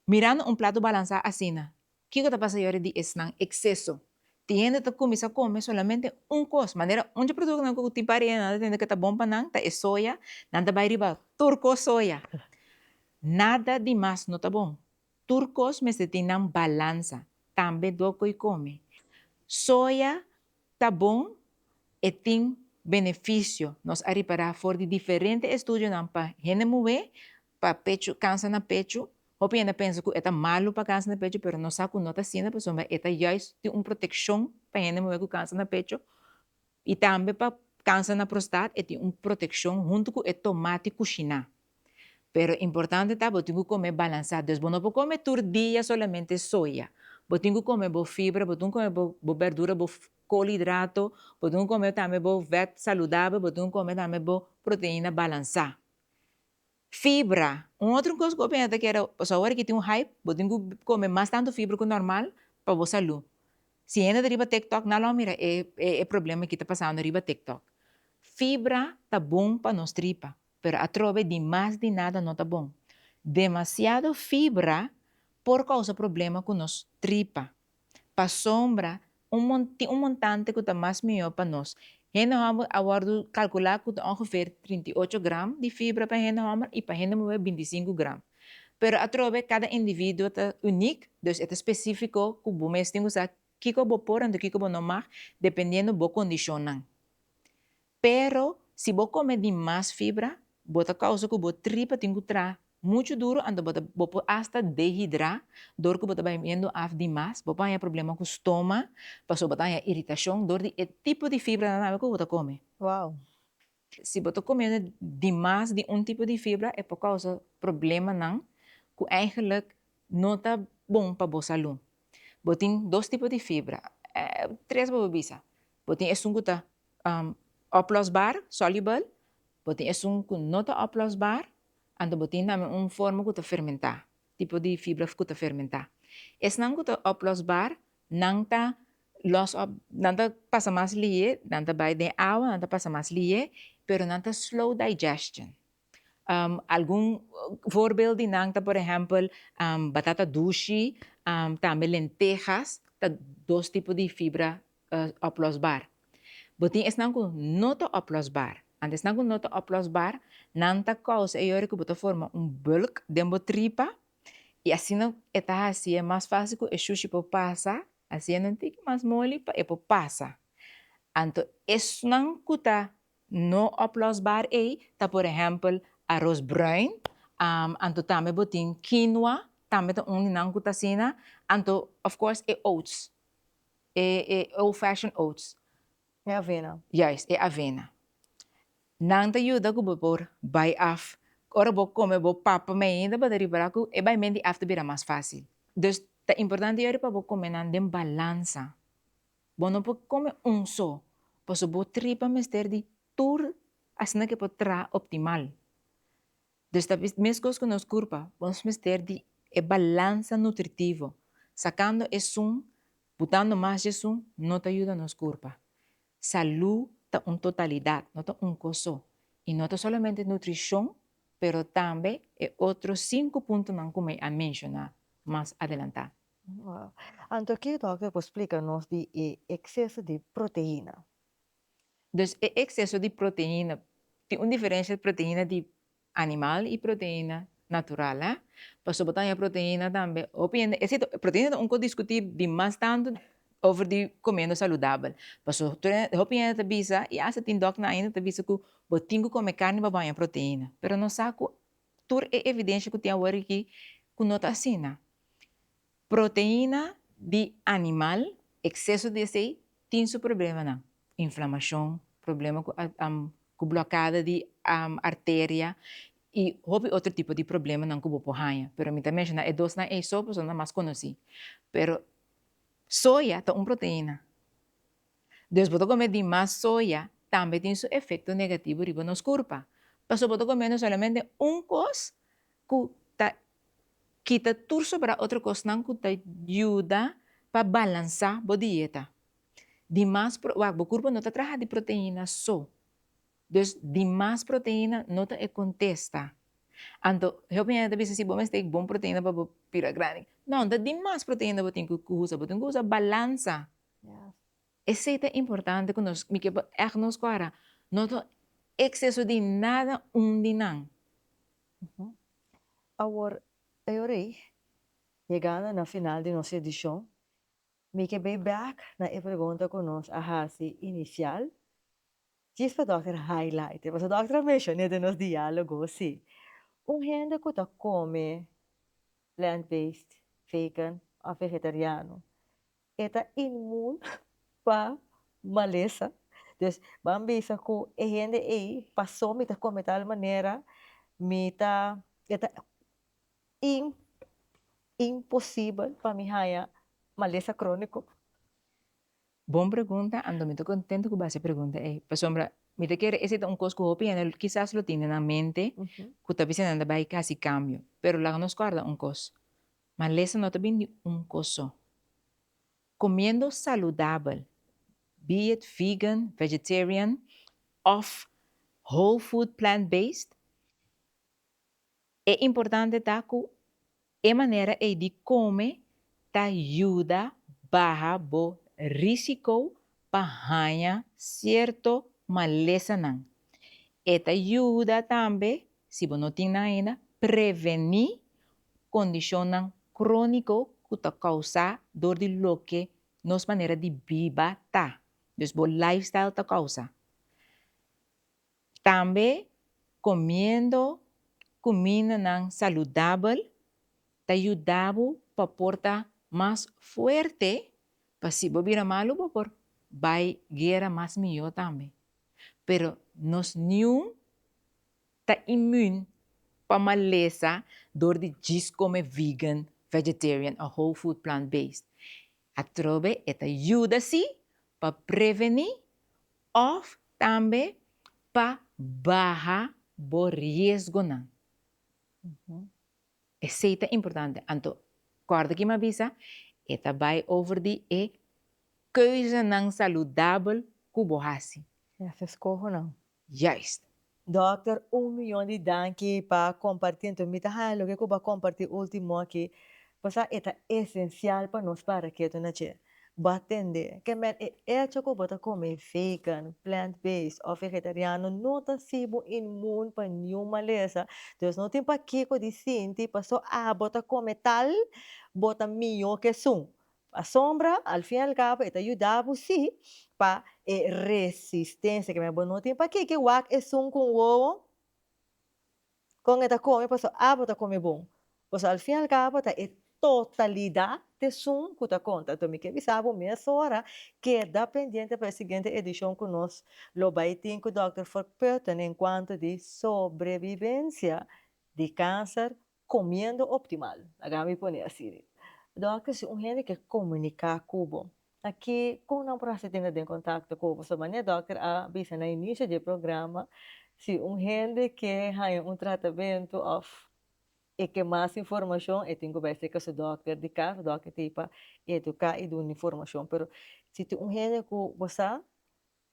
Mirando un plato balansá asina, kiko ta pasa yore di esnan ekseso? Tin hende ta kuminsá kome solamente un kos, manera un dje produktonan ku tin pari hende nan ta tende ku ta bon pa nan ta e soya, nan ta bai riba tur kos soya. Nada di mas no ta bon. Tur kos mester tin nan balansa, tambe doko i kome. Soya ta bon, e tin benefisio, nos a ripará for di diferente estudionan pa hende muhé pa pechu kansa na pechu, hopi hende a pensa ku e ta malu pa kansa na pechu pero nos sa ku no ta asina pasobra e ta juis tin un protekshon pa hende muhé ku kansa na pechu i tambe pa kansa na prostat e tin un protekshon huntu ku e tomati kushiná pero importante ta bo tin ku kome balansá dus bo no por kome tur dia solamente soya bo tin ku kome bo fibra bo tin ku kome bo bèrdura bo kolidrato bo tin ku kome tambe bo vèt saludabel bo tin ku kome tambe bo proteina balansá. Fibra, un otro cos cu bo pensa ta keda, pasobra awor aki tin un hype, bo tin cu come mas tanto fibra cu normal pa bo salu. Si hende ta riba tiktok nan lo a mira e e problema aki ta pasando riba tiktok. Fibra ta bon pa nos tripa, pero atrobe di mas di nada no ta bon. Demasiado fibra por causa problema cu nos tripa. Pasobra un mon tin un montante ku ta mas mihó pa nos. Hende hòmber a wòrdu kalkulá ku ta ongeveer trinta i ocho gram di fibra pa hende hòmber i pa hende muhé binti i sinku gram. Pero atrobe kada individuo ta unik, dus e ta spesífiko ku bo mes tin ku sa kiko bo por anto kiko bo no mag dependiendo bo kondishonnan. Pero, si bo kome di mas fibra, bo ta kousa ku bo tripa tin ku traha muchu duru anto bo ta bo por hasta dehidrá dor ku bo ta baibiendo af di mas. Bo por haña problema ku stoma, pasobra bo ta haña iritashon dor di e tipo di fibra nan awe ku bo ta kome. Wow. Si bo ta komiendo di mas di un tipo di fibra e por kousa problemanan ku eigentlik no ta bon pa bo salú. Bo tin dos tipo di fibra, tres bo por bisa, Bo tin esun ku ta oplosbar, solubel, bo tin esun ku no ta oplosbar, anto bo tin tambe un forma ku ta fermentá, tipo di fibra ku ta fermentá. Esnan ku ta oplosbar nan ta lòs òp, nan ta pasa mas lihé, nan ta bai den awa, nan ta pasa mas lihé, pero nan ta slow digestion. Algun voorbeeld di nan ta por ehempel batata dushi, tambe lentejas ta dos tipo di fibra oplosbaar. Bo tin esnan ku no ta oplosbaar, and esnan ku no ta oplosbaar nan ta kousa e yori ku bo ta forma un bulk den bo tripa i asina e ta hasi'e mas fásil ku e shushi por pasa hasiendo un tiki mas moli pa e por pasa. Anto esnan ku ta No oplosbaar ei ta por ehempel aros bruin, anto tambe bo tin quinoa, tambe ta un di nan cu ta asina, anto of course e oats, e e old fashioned oats. E avena. Juist, e avena. Nan ta yuda cu bo por bai af, ora bo come bo papa me ainda bo ta ripara cu e bai menti af ta bira mas facil. Dus ta importante yori pa bo come nan den balansa. Bo no por come un so, paso bo tripa mester di tur asina ke por traha optimal. Dus ta mescos cu nos curpa, nos mester di e balansa nutritivo, sacando esun, butando mas djesun no ta yuda nos curpa. Salu ta un totalidad, no ta un cos so, y no ta solamente nutricion, pero tambe e otro cinco puntonan cu mi a menciona mas adelanta. Wao. Anto ki dòkter por splika nos di e ekseso di proteina? Dus e ekseso di proteina, tin un diferensha proteina di animal i proteina natural a, pasobra bo ta haña proteina tambe, hopi hende, e si to proteina ta un kos diskutí dimas tantu over di komiendo saludabel, paso tur e hopi hende ta bisa i hasta tin dòkternan ainda ta bisa ku bo tin ku kome karni pa bo haña proteina, pero nos sa ku tur e evidensha ku tin awor aki ku no ta asina. Proteina di animal, exceso di esey tin su problemanan, inflamacion, problema cu blocada di arteria y hopi otro tipo di problemanan cu bo por haya, pero mi ta menciona e dosnan ey so, pasobra nan mas conoci, pero soya ta un proteina, dus bo ta come dimas soya tambe tin su efecto negativo riba nos curpa, pasobra bo ta come solamente un cos cu ta Kita tur sobra otro kosnan ku ta yuda pa balansá bo dieta. Di mas pro, wak, bo kurpo no ta traha di proteína so. Dus di mas proteína no ta e kontesta. Anto, hepi hende ta bisa si bo mester bon proteína pa bo bira grandi. No, ta di mas proteína bo tin ku usa. Bo tin ku usa balansa. Esei ta importante ku nos, mi ke bo ègt nos kòrda, no ta ekseso di nada un di nan. Awor e ora ei, yegando na final di nos edishon, mi ke bai bèk na e pregunta ku nos a hasi inisial, djis pa dòkter hailaitea, pasobra dòkter a menshoné den nos diálogo si, un hende ku ta kome plant-based, vegan òf vegetariano, E ta inmun pa malesa. Dus ban bisa ku e hende ei, Pasó mi ta kome tal manera, mi ta, e ta in, imposibel pa mi haña malesa króniko. Bon pregunta, anto mi ta kontento ku bo a hasi e pregunta ei, pasobra mi ta kere esei ta un kos ku hopi hende kisas lo tin den nan mente, ku ta bisa nan ta bai ka hasi kambio. Pero laga nos kòrda un kos, Malesa no ta bin di un kos so. Comiendo saludabel, be it vegan, vegetarian of whole food plant based, e importante ta cu e manera ey di come ta yuda baha bo risico pa haya cierto malesanan. E ta yuda tambe, si bo no tin nan ainda, preveni kondishonnan króniko ku ta kousá dor di loke nos manera di biba ta, dus bo lifestyle ta kousa. Tambe komiendo kumindanan saludabel ta yuda bo pa por ta mas fuerte pa si bo bira malu bo por bai guera mas mihó tambe. Pero nos niun Ta imun pa malesa dor di djis come vegan, vegetarian o whole food plant based. Atrobe e ta yuda si pa preveni of tambe pa baha bo riesgonan. Esey ta importante. Anto corda ki mi a bisa, e ta bay over di e keuzenan saludabel cu bo haci. Escohonan. Juist. Dokter un miyon di danki pa komparti anto mi ta haña loke ku bo a komparti ultimo aki pasá e ta esensial pa nos paraketu na dje. Bo a tende ke men e echo ku bo ta kome vegan, plant based òf vegetariano no ta si bo inmun pa niun malesa. Dus no tin pa kiko di sinti paso abo ta kome tal bo ta mihó ke esun. Asombra, al fin y al cabo e ta yuda bo si pa e resistencia ke men bo no tin. Pakiko wak esun ku un wowo kon e ta kome paso abo ta kome bon? Paso al fin y al cabo ta e totalidad esun ku ta konta. Enton mi ke bisa bo mesora keda pendiente pa e siguiente edicion ku nos lo bai tin ku Dòkter Furk Pöthen en kuanto di sobrevivencia di kanser Comiendo optimal, laga mi pone así. Dokter, si un hende ke komuniká ku bo, na ke kon nan por hasi tene den kontakto ku bo? So manera dokter a bisa na inicio dje programa, si un hende ke haña un tratamento òf e ke mas informashon, e tin ku bai serka su dokter di kas, dokter tin pa eduká i dun'e informashon. Pero si tin un hende ku bo sa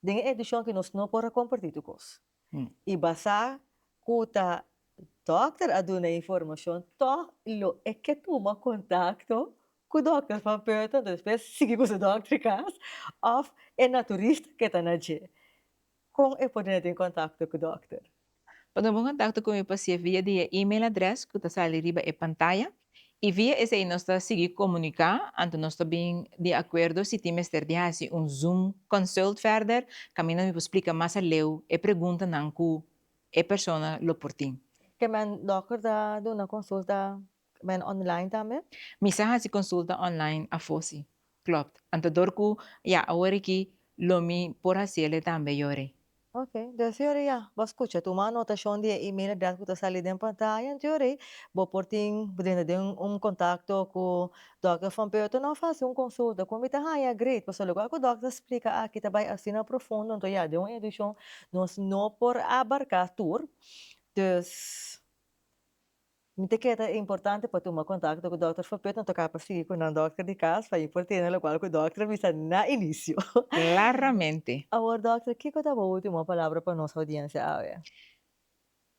Den e edishon aki nos no por a kompartí tur kos. I basá ku ta dòkter a duna e informashon, tòg lo e ke tuma kontakto ku dòkter van Purton, despues sigui ku su dòkter kas, òf e naturista ke ta na dje. Kon e por duna den kontakto ku dòkter? pa tuma kontakto ku mi pa sie via di e email adrès ku ta sali riba e pantaya i via esei nos ta sigui komuniká anto nos ta bin di akuerdo si tin mester di hasi un Zoom Consult ferder kaminda mi por splika mas aleu e preguntanan ku e persona lo por tin. Kèmen dòkter ta duna konsulta Bene online tambe? Mi sa hasi consulta online afo si. Klopt. Anto dor cu ya aworiki lo mi por haciele tambe yori. Ok. Des yori ya. Bo scucha. Tuma anotacion di e email adres cu ta sali den pantaya anto yori bo por tin brinda den un contacto cu Dokter Van Peuter nos haci un consulta. Cu mi ta haya great. Pasobra loke cu Dokter a splica aki ta bay asina profundo anto ya den un edicion nos no por abarca tur. Dus. Mi ta kere ta e importante pa tuma kontakto ku dòkter for pet no toká pa sigui ku nan dòkter di kas pa i por tene lokual ku dòkter a bisa na inisio. Klaramente. Awor dòkter, kiko ta bo último palabra pa nos oudiensia awe?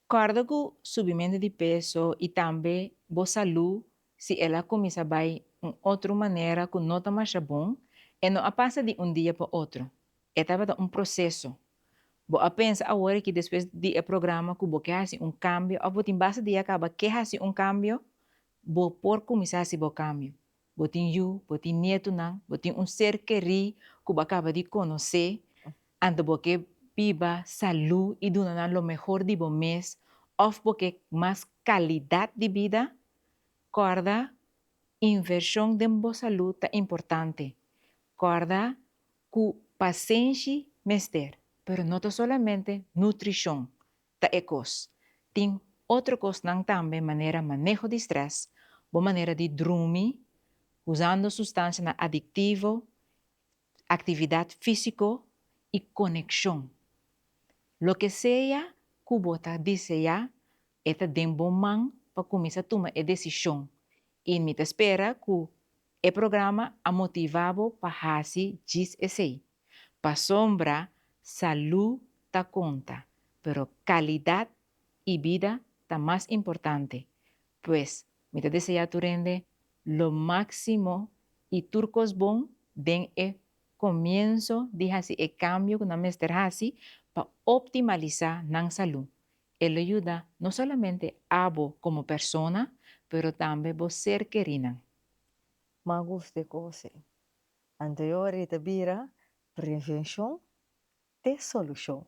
Kòrda ku subimentu di peso i tambe bo salú si el a kuminsá bai un otro manera ku no ta masha bon, e no a pasa di un dia pa otro. E tabata un proseso. Bo a pensa awor aki despues di e programa ku bo ke hasi un kambio òf bo tin base di a kaba ke hasi un kambio? Bo por kuminsá hasi bo kambio. Bo tin yu, bo tin nietunan, bo tin un ser kerí ku bo a kaba di konosé, anto bo ke biba salú i duna nan lo mehor di bo mes òf bo ke mas kalidat di bida? Kòrda, invershon den bo salú ta importante. Kòrda, Ku pasenshi mester, pero no ta solamente nutrishon ta e kos. Tin otro kosnan tambe manera maneho di strès, bo manera di drumi, usando sustansianan adiktivo, aktividat físiko i konekshon. Loke sea ku bo ta diseá e ta den bo man pa kuminsá tuma e desishon i mi ta spera ku E programa a motivá bo pa hasi djis esei. Pasobra salú ta konta, pero kalidat i bida ta mas importante. Pues, mi ta deseá tur hende lo máksimo i tur kos bon den e komienso di hasi e kambio ku nan mester hasi pa optimalisá nan salú E lo yuda no solamente abo komo persona pero tambe bo ser kerinan. Mas gust di kose anterior e ta bira prevenshon te solushon.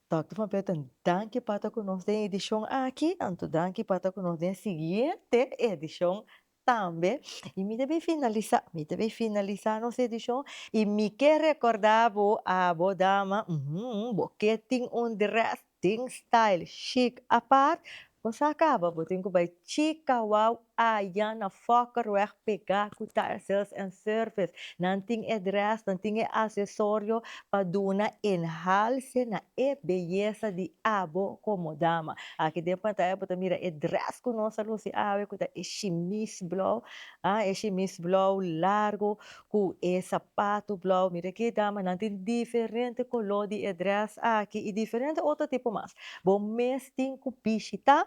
Dòkter Van Buiten danki pa ta ku nos den edishon aki anto danki pa ta ku nos den e siguiente edishon Tambe y mi ta bay finalisa, mi ta bay finalisa nos edicion y mi ke recorda bo abo dama umm bo ke tin un dress tin style chic apart bo sa caba bo tin cu bay chicawou ayan na fokkerweg pega cu tiresales and service nan tin e dress nan tin e accesorio pa duna enhalce na e beyesa di abo como dama. Aki den pantaya bo ta mira e dress cu nos a luci awe cu ta e shimis blauw, ah, e shimis blauw largo cu e sapato blauw. Mira aki damanan tin diferente color di e dress aki y diferente otro tipo mas. Bo mes tin cu bishita.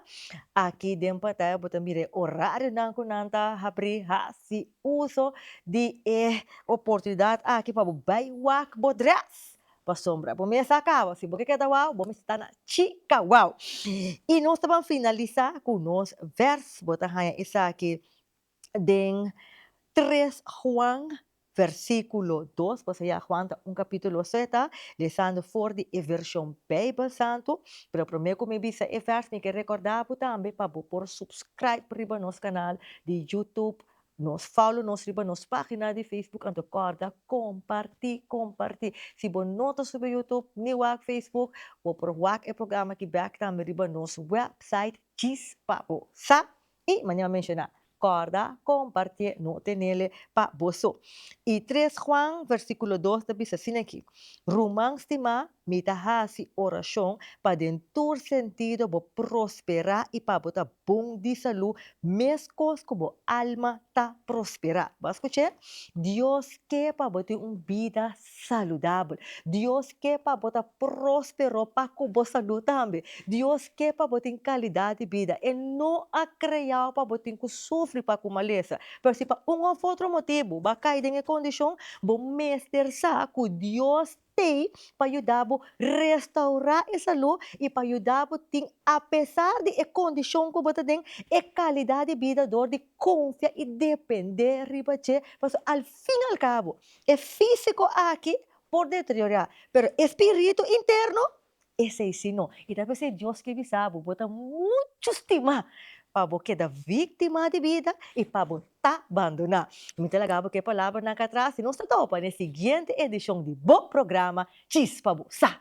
Aki den pantaya bo ta mira e horarionan cu nan ta habri haci uso di e oportunidat aki pa bo bai wak bo dress pasobra bo mes a kaba si bo ke keda wou bo mester ta na chika wou y nos ta ban finalisa ku nos vers bo ta haya esaki den tres Juan versiculo dos pasobra ya Juan ta un capitulo so e ta lesando for di e version bijbel santo pero prome ku mi bisa e vers mi ke recorda bo tambe pa bo por subscribe riba nos canal di YouTube Nos follow nos riba nos pagina di Facebook anto corda comparti comparti si bo no ta subi YouTube ni wak Facebook bo por wak e programa aki back tambe riba nos website djis pa bo sa y manera menciona corda compartie no tenele pa boso y tres Juan versiculo dos ta bisa asina aki ruman stima Mi ta hasi orashon pa den tur sentido bo prosperá i pa bo ta bon di salú meskos ku bo alma ta prosperá. Bo a skuch'é? Dios ke pa bo tin un bida saludabel. Dios ke pa bo ta próspero pa ku bo salú tambe. Dios ke pa bo tin kalidat di bida. E no a kreáu pa bo tin ku sufri pa ku malesa. Pero si pa un òf otro motibu bo a kai den e kondishon, bo mester sa ku Dios te pa yuda bo restaurá e salú i pa yuda bo tin, apesar di e kondishon ku bo ta den, e kalidat di bida dor di konfia i dependé riba dje. Pasobra al fin al kabo, e físiko aki por deteriorá, pero e spiritu interno Esei si no. I ta p'esei Dios ke bisa bo, bo ta muchu stimá pa bo keda víktima di bida i pa bo ta bandoná. Mi ta laga bo k'e palabranan ka atras i nos ta topa n'e siguiente edishon di bo programa Djis pa bo sa.